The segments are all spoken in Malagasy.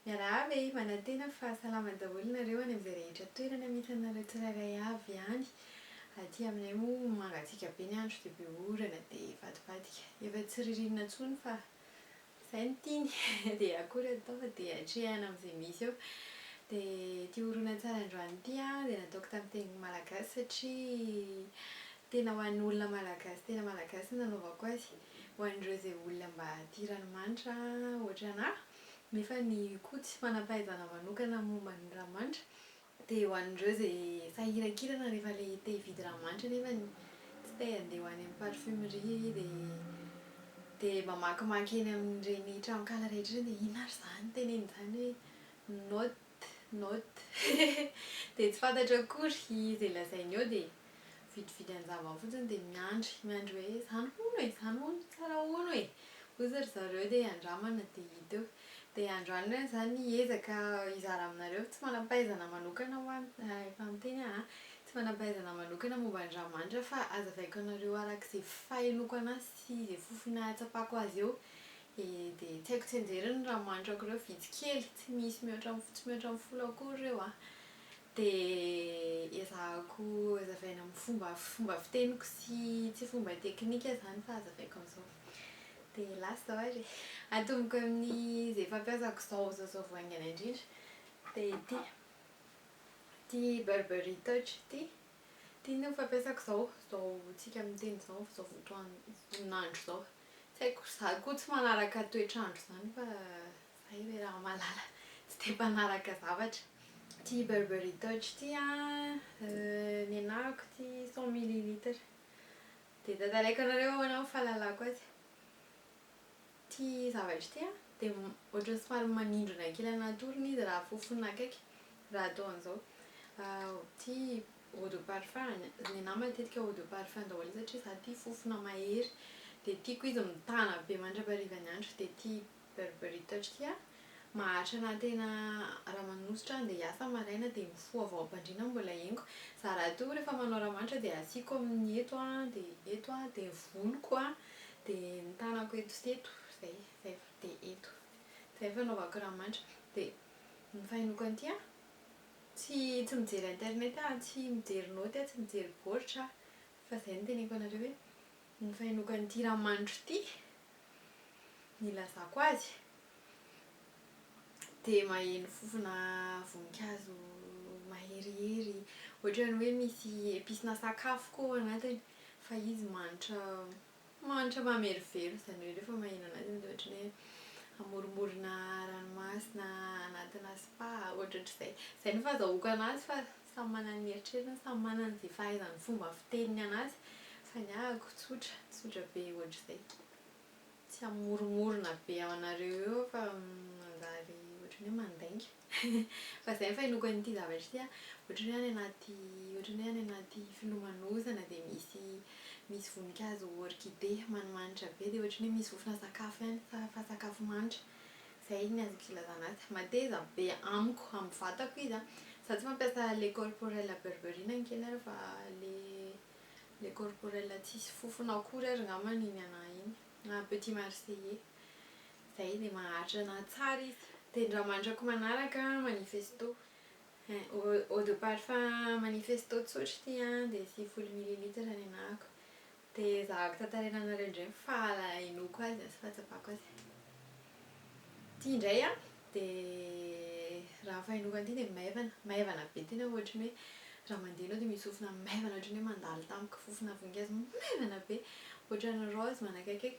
Miarahaba e! Manantena fa salama daholo nareo any amin'izay rehetra toerana misy anareo tsirairay avy any. Aty aminay moa mangatsiaka be ny andro dia be orana dia vadibadika. Efa tsy ririnina intsony fa izay no tiany dia akory atao fa dia atrehana amin'izay misy eo. Dia ity horonantsary androany ity an dia nataoko tamin'ny teny malagasy satria tena ho an'olona malagasy tena malagasy no nanaovako azy. Ho an'ireo izay olona mba tia ranomanitra ohatran'ahy nefa ny koa tsy fanampahaizana manokana momba ny ranomanitra dia ho an'ireo izay sahirankirana rehefa ilay te hividy ranomanitra nefa tsy te handeha ho any amin'ny parfumerie dia dia mamakimaky eny amin'ireny tranonkala rehetra ireny dia inona ary izany teneniny izany hoe note note hehehe dia tsy fantatra akory izay lazainy eo dia Vitsivitsy anjava ao fotsiny dia miandry, miandry hoe izany hono e, izany hono no tsara hono e! Hozy ry zareo dia andramana dia hita eo. Dia andro any re izany hiezaka hizara aminareo tsy manam-pahaizana manokana ho an, efa niteny aho an, tsy manam-pahaizana manokana momba an'Andriamanitra fa azavaiko anareo araka izay fahenoko an'azy sy izay fofona ahatsapako azy eo. Dia tsy haiko tsinjeriny ny ranomanitra aoka ireo vitsy kely, tsy misy mihoatra ny tsy mihoatra ny folo akory ireo an! dia ezahako azavaina amin'ny fomba fomba fiteniko sy tsy fomba teknika izany fa azavaiko amin'izao dia lasa izao ary e. Atomboka amin'izay fampiasako izao izao izao vao haingana indrindra dia ity ity Burberry Touch ity ity no fampiasako izao izao tsika miteny izao amin'izao fotoan'andro izao tsy haiko za koa tsy manaraka toetr'andro izany fa Hay ve raha malala tsy dia mpanaraka zavatra. Ity Burberry Touch ity an, nenahako ity cent millilitres. Dia tantaraiko anareo ahoana ny fahalalako azy. Ity zavatra ity an, dia ohatran'ny somary manindrona ankilany antorony izy raha fofonina akaiky, raha atao an'izao. Ity eau de parfum, ny ahy matetika eau de parfum daholo satria izaho tia fofona mahery. Dia tiako izy mitana be mandrakariva ny andro. Dia ity Berberit Tachkia, Maharitra anah tena raha manosotra handeha hiasa maraina dia mifoha vao ampandriana mbola henoko. Za rahateo rehefa manao ranomanitra dia asiako amin'ny eto an, dia eto an, dia ny voloko an, dia ny tanako eto sy eto, izay, izay, dia eto. Izay fanaovako ranomanitra. Dia ny fahenoko an'ity an, tsy tsy mijery internet aho, tsy mijery naoty aho, tsy mijery baoritra aho. Fa izay no teneniko anareo hoe ny fahenoko an'ity ranomanitra ity. nilazako azy dia maheno fofona voninkazo maherihery ohatran'ny hoe misy episina sakafo koa ao anatiny fa izy manitra manitra mamelovelo izany hoe rehefa maheno an'azy ianao dia ohatran'ny hoe hamoromorona ranomasina anatina spa ohatrohatr'izay izay no fazahoako an'azy fa Samy manana ny eritreriny, samy manana izay fahaizany fomba fiteniny anazy fa ny ahako tsotra, tsotra be ohatr'izay. Tsy hamoromorona be ao anareo eo aho fa manjary ohatran'ny hoe mandainga fa izay no fahenoako an'ity zavatra ity an, ohatran'ny hoe any anaty, ohatran'ny hoe any anaty filomanosana dia misy, misy voninkazo orchidée manimanitra be dia ohatran'ny hoe misy hofona sakafo ihany fa sakafo manitra. Zay iny aza kilazana azy. Mateza be amiko amin'ny vatako izy an! Za tsy mampiasa lait corporel à berberine ankeny ary fa le lait corporel tsisy fofona akory ary angamba no iny anah iny na petit marseillais. Zay dia maharitra anah tsara izy. Dia ny ranomantrako manaraka an, manifesto. Eau de parfum manifesto tsotra ity an, dia sivifolo mililitre no enahako. Dia ezahako tantarena anareo indray ny fahalahenoako azy sy fahatsapako azy. Ity indray an, dia raha ny fahenoako an'ity dia maivana. Maivana be tena ohatran'ny hoe raha mandeha ianao dia misy fofona maivana ohatran'ny hoe mandalo tampoka, fofona voninkazo maivana be, ohatran'ny raozy manakaikaiky.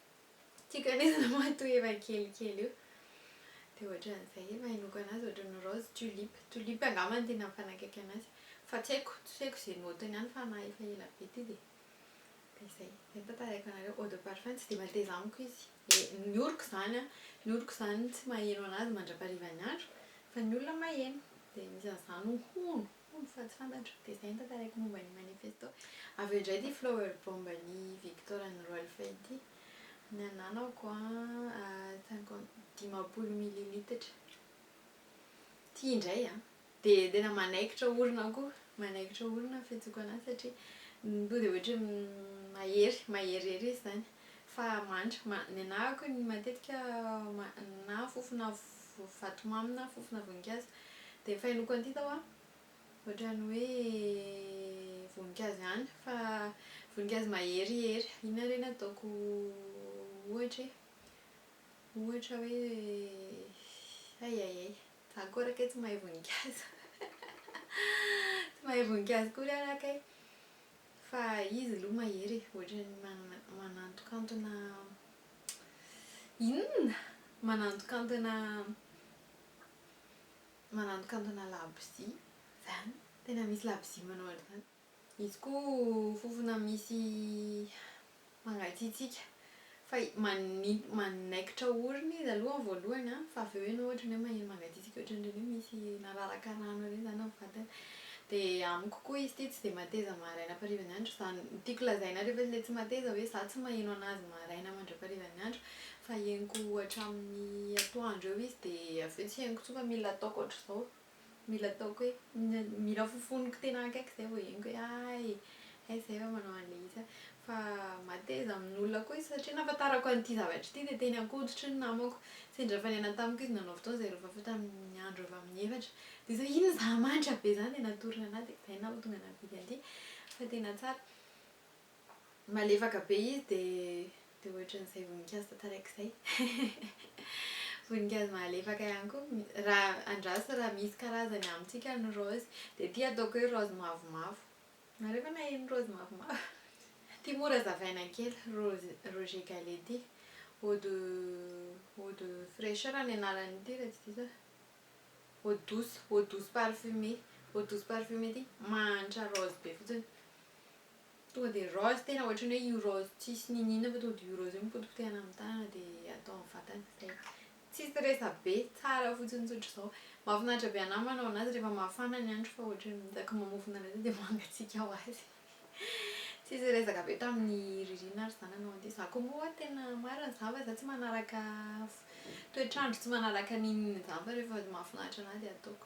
Tiako harezina moa ito efa kelikely io. Dia ohatran'izay efa henoiko anazy ohatran'ny raozy, tulipe. Tulipe angamba no tena mifanakaiky anazy. Fa tsy haiko, tsy haiko izay nôtiny ihany fa na efa ela be ity dia. Dia izay. Izay no tantaraiko anareo. Eau de parfum tsy dia malteza amiko izy. Ny oroko izany an, ny oroko izany tsy maheno anazy mandra-parivan'ny andro, fa ny olona maheno. Dia anisan'izany hono. Omby fa tsy fantatro. Dia izay no tantaraiko momba an'io manifesto. Avy eo indray ity flower bomb an'i Victor and Rolf ity. Ny anà nanko an, cinquante, dimampolo mililitatra. Ity indray an. Dia tena manaikitra orona koa. Manaikitra orona ny fiantsoako anà satria to dia ohatran'ny mahery, maherihery izy izany. Fa mandry. Ma, ny anahako ny matetika ma, na fofona vo, vatomamy na fofona voninkazo. Dia ny fahenoko an'ity zao an, ohatran'ny hoe voninkazo ihany fa voninkazo maherihery. Inona re no ataoko ohatra e? Ohatra hoe haiaiaiai. Za koa ary kay tsy mahay voninkazo. Tsy mahay voninkazo koa re ary aho kay. Fa izy aloha mahery e! Ohatran'ny manantokantona inona? Manantokantona manantokantona labozia izany. Tena misy labozia manao an'izany. Izy koa fofona misy mangatsiatsiaka fa manin manaikitra orona izy aloha voalohany an, fa avy eo ianao ohatrany hoe maheno mangatsiatsiaka ohatrany hoe misy nararaka rano ery izany amin'ny vatany, dia amiko koa izy ity tsy dia mateza maraina am-parivan'ny andro, izany ny tiako lazaina ary ilay tsy mateza hoe za tsy maheno anazy maraina mandra-parivan'ny andro fa henoko hatramin'ny atoandro eo izy dia avy eo tsy henoko intsony fa mila ataoko ohatr'izao Mila ataoko hoe, mila fofoniko tena akaiky izay vao henoko hoe hay, hay izay aho manao an'ilay izy aho. Fa mateza amin'olona koa izy satria nahafantarako an'ity zavatra ity dia teny an-koditry ny namako. Sendra efa niaina tamiko izy nanao fotoana izay rehefa avy eo tamin'ny andro avy amin'ny efatra. Dia izao inona zava-manitra be izany dia natorony an'ahy dia izay nahatonga an'ahy nividy an'ity fa tena tsara. Malefaka be izy dia dia ohatran'izay voninkazo tantaraiko izay. Voninkazo mahalefaka ihany koa raha andraso raha misy karazany amintsika ny raozy. Dia ity ataoko hoe raozy mavomavo. Nareo ve naheno ny raozy mavomavo? Ity mora zavaina kely, raozy Roger Gallé ity. Eau de eau de fraîcheur ny anaran'ity raha tsy diso aho. Eau douce, eau douce parfumée. Eau douce parfumée ity mahantra raozy be fotsiny. Tonga dia raozy tena ohatran'ny hoe io raozy tsisy niniana fa tonga dia io raozy io no potipotehana amin'ny tanana dia atao amin'ny vatana izay. Tsisy resabe, tsara fotsiny tsotra izao. Mahafinaritra be anà manao an'azy rehefa mafana ny andro fa ohatran'ny mitaky mamofona indray dia mangatsiaka ho azy. Tsisy resaka be tamin'ny ririnina ary izaho nanao an'ity. Izaho koa moa tena marina izany fa izaho tsy manaraka toetr'andro tsy manaraka nininin'izany fa rehefa mahafinaritra anà dia ataoko.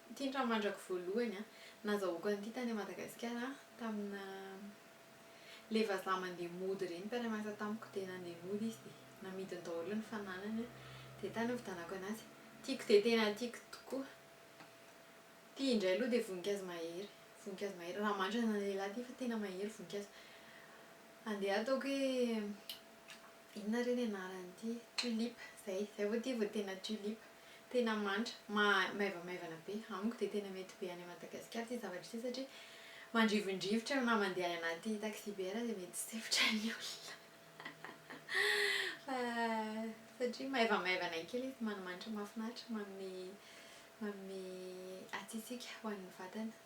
Ity ny ramandrako voalohany an. Nazahoako an'ity tany Madagasikara an, tamina ilay vazaha mandeha mody ireny mpiara-miasa tamiko dia nandeha mody izy dia namidiny daholo ny fananany an, dia tany novidanako anazy. Tiako dia tena tiako tokoa. Ity indray aloha dia voninkazo mahery, voninkazo mahery, raha manitra ny an'ilay lehilahy ity fa tena mahery voninkazo. Andeha ataoko hoe. Inona re ny anaran'ity tulipe zay, zay vao ity vao tena tulipe, tena manitra, maivamaivana be, amiko dia tena mety be any Madagasikara ity zavatra ity satria mandrivondrivotra na mandeha any anaty taxi-be ary aza mety tsy sempotra ny olona fa satria maivamaivana kely izy, manimanitra mahafinaritra, manome manome hatsiatsiaka ho an'ny vatana.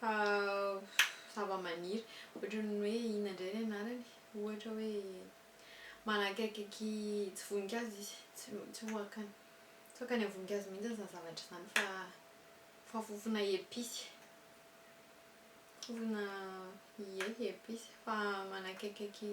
Fa zavamaniry. Ohatran'ny hoe inona indray ny anarany? Ohatra hoe manakaikaiky tsy voninkazo izy, tsy ho akany. Tsy ho akany amin'ny voninkazo mihitsy izany zavatra izany fa fa fofona episy. Fofona, ie, episy fa manakaikaiky.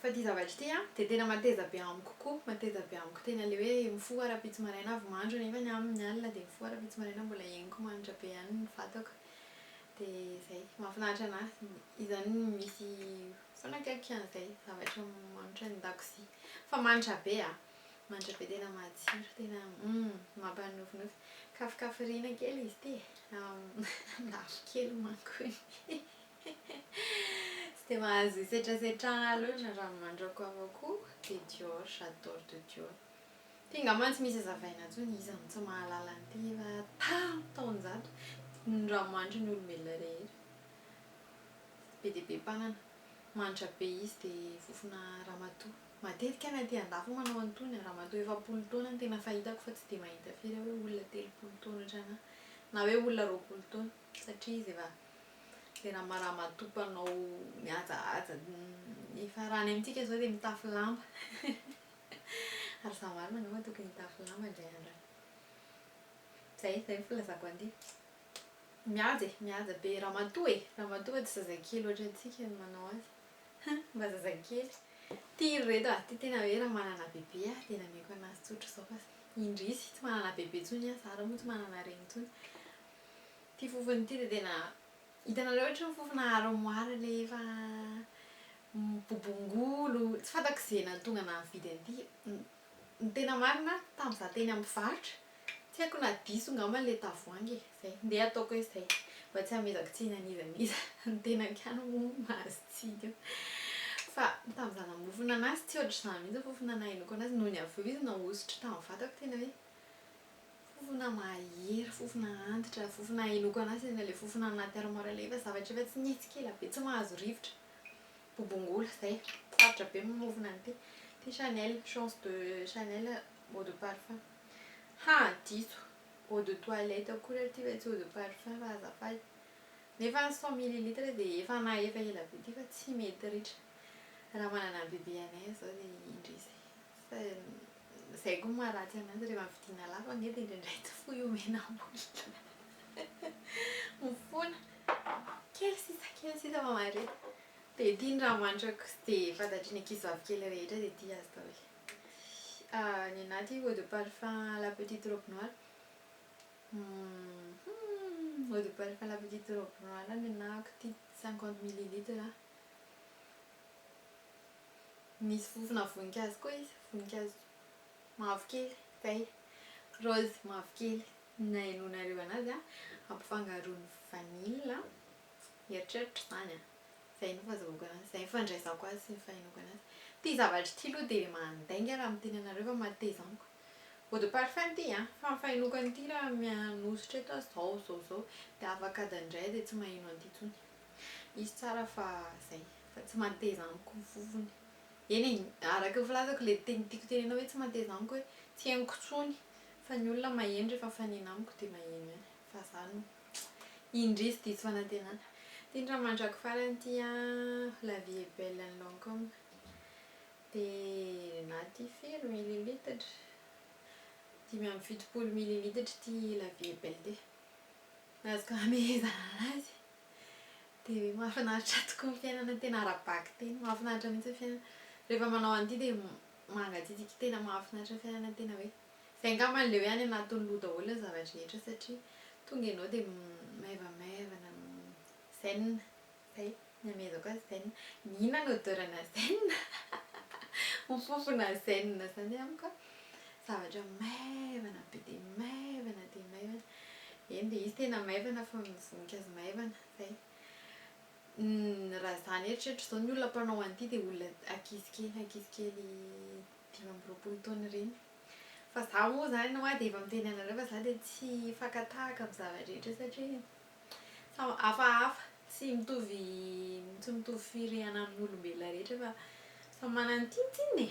Fa ity zavatra ity an, dia tena mateza be amiko koa, mateza be amiko tena ilay hoe mifoha ara-pitsy maraina avy mandro nefa ny ahy ny alina dia mifoha ara-pitsy maraina mbola henoko manitra be ihany ny vatako. Dia izay, mahafinaritra ny ahy izany misy fotoana akaiky an'izay zavatra manitra ny an-dakozia. Fa manitra be an! Manitra be tena matsiro, tena humm, mampanofinofy. Kafokaforiana kely izy ity e, lafo kely manko. Tsy dia mahazo hisetrasetrana loatra raha ny mandraoko avao koa dia Dior, j'adore de Dior. Ty ngah mantsy misy azavaina intsony iza no tsy mahalala an'ity fa tamin'ny taonjato ny ranomanitry ny olombelona rehetra. Be dia be mpanana, manitra be izy dia fofona ramatoa. Matetika any aty an-dafy no manao an'itony, ramatoa efapolo taona no tena fahitako fa tsy dia mahita firy aho hoe olona telopolo taona ohatranahy na hoe olona roapolo taona satria izy efa le ra maramatoa mpanao mihajahaja efa ra any amintsika zao de mitafy lamba ary za marina angamba tokony hitafy lamba ndray andro any zay zay ny filazako an'ity mihaja e mihaja be ramatoa e ramatoa fa tsy zazakely ohatrantsika no manao azy ha mba zazakely tia ry reto a tia tena hoe ra manana bebe a de nameko anazy tsotra zao fa indrisy tsy manana bebe tsony an za ra moa tsy manana reny tsony Ty fofona ity dia tena hitanareo ohatra hoe fofona armoire le efa mibobongolo tsy fantako ze nahatonga anah nividy an'ity ny tena marina ary tamin'ny za teny amin'ny mpivarotra tsy haiko na diso ngamba le tavoahangy e zay ndeha ataoko hoe zay mba tsy hamezako tsiny an'iza n'iza ny tenako ihany moa no mahazo tsiny eo fa tamin'ny za namofona anazy tsy ohatr'izany mihitsy ny fofona nahenoako anazy nony avy eo izy nahosotra tamin'ny vatako tena hoe Fofona mahery, fofona antitra, fofona ahenoako an'asa ianao ilay fofona anaty armoire ilay efa zavatra efa tsy misy kila be tsy mahazo rivotra. Bobongolo, izay. Sarotra be ny mamofona an'ity. Ity Chanel, chance de Chanel eau de parfum. Ha! diso. Eau de toilette akory ary ity fa tsy eau de parfum fa azafady. Nefa ny cent millilitres dia efa nahefa ela be ity fa tsy mety ritra. Raha manana ny bebe anay izao dia indrisy. Zay koa maharatsy ananjy rehefa vidiana lafo ange dia indraindray tsy foy omena olona. Mifona. Kely sisa kely sisa fa mahare. Dia ity ny ranomanitra dia fantatry ny ankizivavy kely rehetra dia ity azo daholo. Ny anah ity eau de parfum la petite robe noire. Eau de parfum la petite robe noire ny anahako ity cinquante millilitres. Misy vovona voninkazo koa izy, voninkazo mavokely, izay, rose mavokely. Nahainoanareo anazy an, ampifangaro ny vanille, eritreritro izany an, izay no fahazahoako anazy, izay no fandraisako azy sy ny fahainoako anazy. Ity zavatra ity aloha dia mandainga raha miteny anareo fa mateza amiko. Eau de parfum ity an, fa ny fahainoako an'ity raha mihanosotra eto aho izao izao izao dia afaka adiny iray aho dia tsy maheno an'ity intsony. Izy tsara fa zay, fa tsy mateza amiko ny vovony. Eny e, araka ny filazako ilay teny tiako tenenina hoe tsy mateza amiko hoe tsy henoko intsony fa ny olona maheno rehefa mifanena amiko dia maheno ihany fa za no indrisy diso fanantenana. Ity ny ramandrako farany ity an, la vie est belle an'i Lancôme. Dia Renaty firy mililitatra? Dimy amby fitopolo mililitatra ity la vie est belle ity. Azoko amehezana an'azy e. Dia mahafinaritra tokoa ny fiainana tena ara-bakiteny. Mahafinaritra mihitsy ny fiainana. Rehefa manao an'ity dia mangatsitsiky tena mahafinaritra ny fiainana tena hoe. Izay angamba no leo ihany anatin'ny loha daholo ny zava-drehetra satria tonga ianao dia maivamaivana, zen. Izay, ny anay izao koa zen. Mihinana odeur-na zen. Mifofona zen izany amiko an. zavatra maivana be dia maivana dia maivana, eny dia izy tena maivana fa ny voninkazo maivana izay, raha izaho no eritreritro izao ny olona mpanao an'ity dia olona ankizy kely ankizy kely dimy amby roapolo taona ireny, fa izaho moa izany hoa dia efa miteny anareo fa izaho dia tsy fakan-tahaka amin'ny zava-drehetra satria samy hafahafa, tsy mitovy tsy mitovy firehana amin'olombelona rehetra fa samy manana ny tintininy e!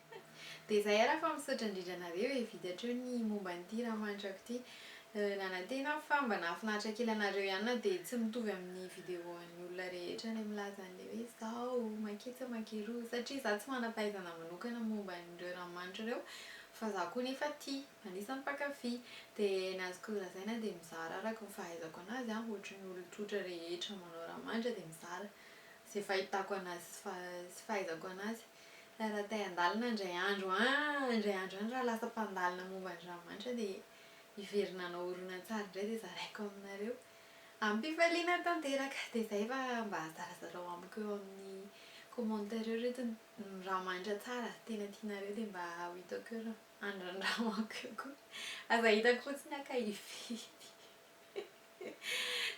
Dia izay ara fa misaotra indrindra anareo e vidy hatreo ny momba an'ity ranomantrako ity. Nanantena aho fa mba nahafinaritra kely anareo ihany na dia tsy mitovy amin'ny video an'ny olona rehetra ilay milaza an'ilay hoe izao manketsy mankeroa satria izaho tsy manam-pahaizana manokana momba an'ireo ranomanitra ireo fa izaho koa anefa tia, anisan'ny mpankafy. Dia ny azoko lazaina dia mizara araka ny fahaizako anazy aho ohatry ny olon-tsotra rehetra manao ranomanitra dia mizara izay fahitako anazy sy fahaizako anazy. Raha te handalina indray andro any, indray andro any raha lasa mpandalina momba an'Andriamanitra dia hiverina hanao horonantsary indray dia zaraiko aminareo. Amim-pifaliana tanteraka. Dia izay fa mba zarazarao amiko eo amin'ny commentaires eo ry reto ny raha mahantra tsara tena tianareo dia mba ho hitako eo raha andrandraho amiko eo koa. Aza hitako fotsiny aho kay hifidy.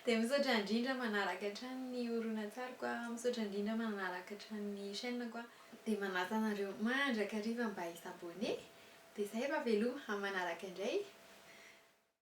Dia misaotra indrindra manaraka hatrany ny horonantsariko a, misaotra indrindra manaraka hatrany ny chaîne-ko a. Dia manasa anareo mandrakariva mba hi-s'abonner. Dia izay fa veloma amin'ny manaraka indray.